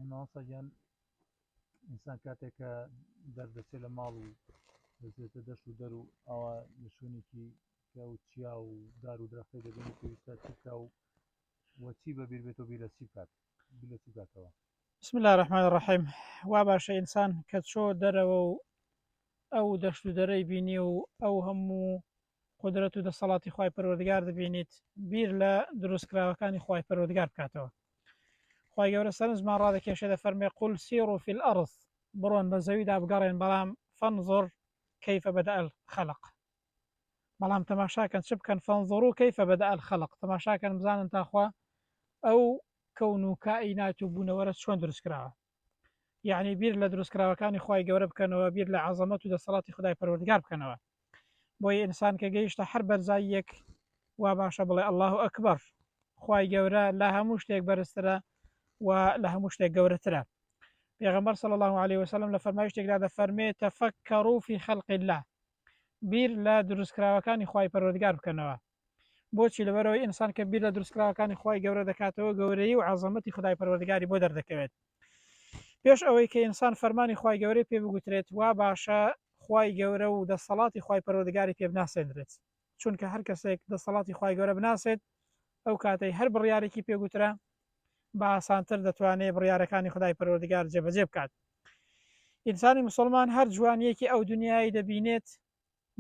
مامۆستا گیان ئینسان کاتێک کە دەردەچێت لە ماڵ و دەچێتە دەشت و دەر و ئاوا لە شوێنێکی کە و چیا و دار و درەختی دەبێت پێویستە چکا و وەچی بە بیر بێت و بیر لە چی بکات بیر لە چی بکاتەوە بسم الله الرحمن الرحیم وا باشە ئینسان کە چۆ دەرەوە و ئەو دەشت و دەرەی بینی و ئەو هەموو قدرەت و دەسەڵاتی خی پەروەردگار دەبینیت بیر لە دروستکراوەکانی خی پەروەردگار بکاتەوە خی گەورە سەرنجمان ڕادەکێشە دە فەرمێ قول سیر و فیل ئەرز بڕۆن بە زەویدا بگەڕێن بەڵام فەنزۆر کەیفە بەدە ئەل خەلق بەڵام تەماشاکەن چ بکەن فەنزۆر و کەیفە بەدە ئەل خەلق تەماشاکەن بزانن تاخوا ئەو کەون و کائینات و بوونەوەرە چۆن دروستکراوە یعنی بیر لە دروستکراوەکانی خی گەورە بکەنەوە بیر لە عزەمەت و دەسەڵاتی خدای پەروەردگار بکەنەوە بۆی ئینسان کە گەیشتە هەر بەرزای یەک وا باشە بڵێ ئەله و ئەکبەر خی گەورە لە هەموو شتێک بەرزترە و لە هەموو شتێک گەورەترە پێغمبەر صلی الله عليه وسلم لە فەرمایشتێکدا دەفەرمێ تەفەکەڕوفی خەلقی الله بیر لە دروستکراوەکانی خی پەروەردگار بکەنەوە بۆچی لەبەرەوەی ئینسان کە بیر لە دروستکراوەکانی خی گەورە دەکاتەوە گەورەی و عزەمەتی خدای پەروەردگاری بۆ دەردەکەوێت پێش ئەوەی کە ئینسان فەرمانی خی گەورەی پێ بگوترێت وا باشە خی گەورە و دەسەڵاتی خی پەروەردگاری پێ بناسێنرێت چونکە هەر کەسێک دەسەڵاتی خی گەورە بناسێت ئەو کاتەی هەر بڕیارێکی پێگوترا بە ئاسانتر دەتوانێت بڕیارەکانی خدای پەروەردگار جێبەجێ بکات ئینسانی مسلمان هەر جوانیەکی ئەو دنیای دەبینێت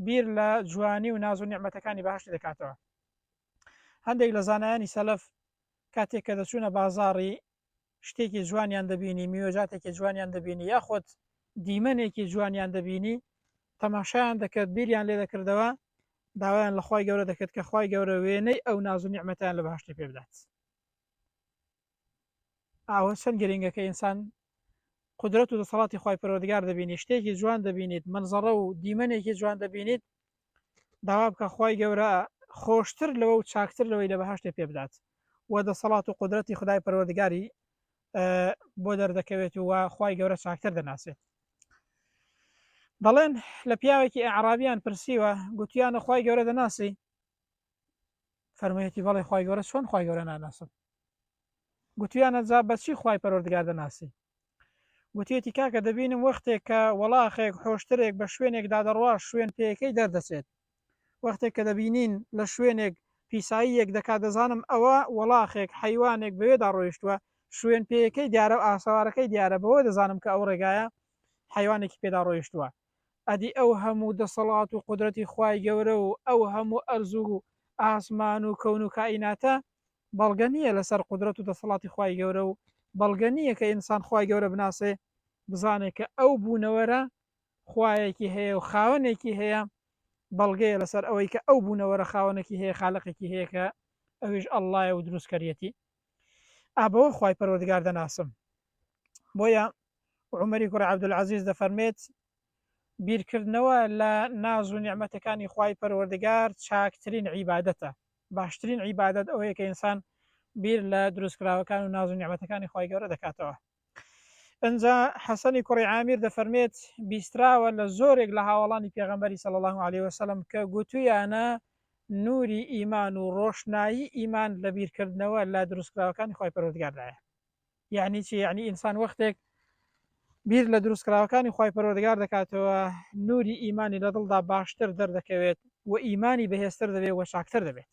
بیر لە جوانی و ناز و نیعممەتەکانی باشتی دەکاتەوە هەندێک لە زانایانی سەلف کاتێک کە دەچوونە بازاری شتێکی جوانیان دەبینی میوەجاتێکی جوانیان دەبینی یاخود دیمەنێکی جوانیان دەبینی تەماشایان دەکرد بیریان لێ دەکردەوە داوایان لە خی گەورە دەکرد کە خی گەورە وێنەی ئەو ناز و نیعممەتیان لە باشتی پێ بدات ئاوە چەند گرنگە کە ئینسان قدرەت و دەسەڵاتی خی پەرۆدگار دەبینی شتێکی جوان دەبینیت منزەڕە و دیمەنێکی جوان دەبینیت داوا بکە خی گەورە خۆشتر لەوە و چاکتر لەوەی لە بەهشتێ پێ بدات و دەسەڵات و قدرەتی خدای پەروەردگاری بۆ دەردەکەوێت و خی گەورە چاکتر دەناسێت دەڵێن لە پیاوێکی عرابیان پرسیوە گوتیانە خی گەورە دەناسی فەرموویەتی بەڵێ خی گەورە چۆن خی گەورە ناناسم گوتیانە جا بەچی خی پەرۆردگار دەناسی گوتیەتی کاکە دەبینم وەختێک کە وەڵاخێک حۆشترێک بە شوێنێکدا دەڕوا شوێن پێەکەی دەردەچێت وەختێک کە دەبینین لە شوێنێک پیسایی یەک دەکات دەزانم ئەوە وەڵاخێک حیوانێک بەوێدا ڕۆیشتووە شوێن پێەکەی دیارە و ئاسەوارەکەی دیارە بەوە دەزانم کە ئەو ڕێگایە حیوانێکی پێدا ڕۆیشتووە ئەدی ئەو هەموو دەسەڵات و قودرەتی خوای گەورە و ئەو هەموو ئەرز و ئاسمان و کەون و کائیناتە بەڵگە نیە لەسەر قودرەت و دەسەڵاتی خوای گەورە و بەڵگە نیە کە ئینسان خوای گەورە بناسێ بزانێ کە ئەو بوونەوەرە خوایەکی هەیە و خاوەنێکی هەیە بەڵگەیە لەسەر ئەوەی کە ئەو بوونەوەرە خاوەنەکی هەیە خالقێکی هەیە کە ئەویش اللە یە و دروستکەریەتی. ئابەوە خوای پەروەردگار دەناسم بۆیە عمەری کوڕی عبدالعزیز دەفەرمێت بیرکردنەوە لە ناز و نیعممەتەکانی خوای پەروەردگار چاکترین عیباەتە باشترین عیباەت ئەوەیە کە ئینسان بیر لە دروستکراوەکان و ناز و نیعممەتەکانی خی گەورە دەکاتەوە ئنجا حەسەنی کوڕی عامیر دەفەرمێت بیستراوە لە زۆرێک لە هاوەڵانی پێغەمبەری صلی اللە علیە وسلم کە گوتویانە نوری ئیمان و ڕۆشنایی ئیمان لە بیرکردنەوە لە دروستکراوەکانی خی پەرۆردگاردایە یعنی چی یعنی ئینسان وەختێک بیر لە دروستکراوەکانی خی پەرۆردگار دەکاتەوە نوری ئیمانی لە دڵدا باشتر دەردەکەوێت و ئیمانی بەهێزتر دەبێت و چاکتر دەبێت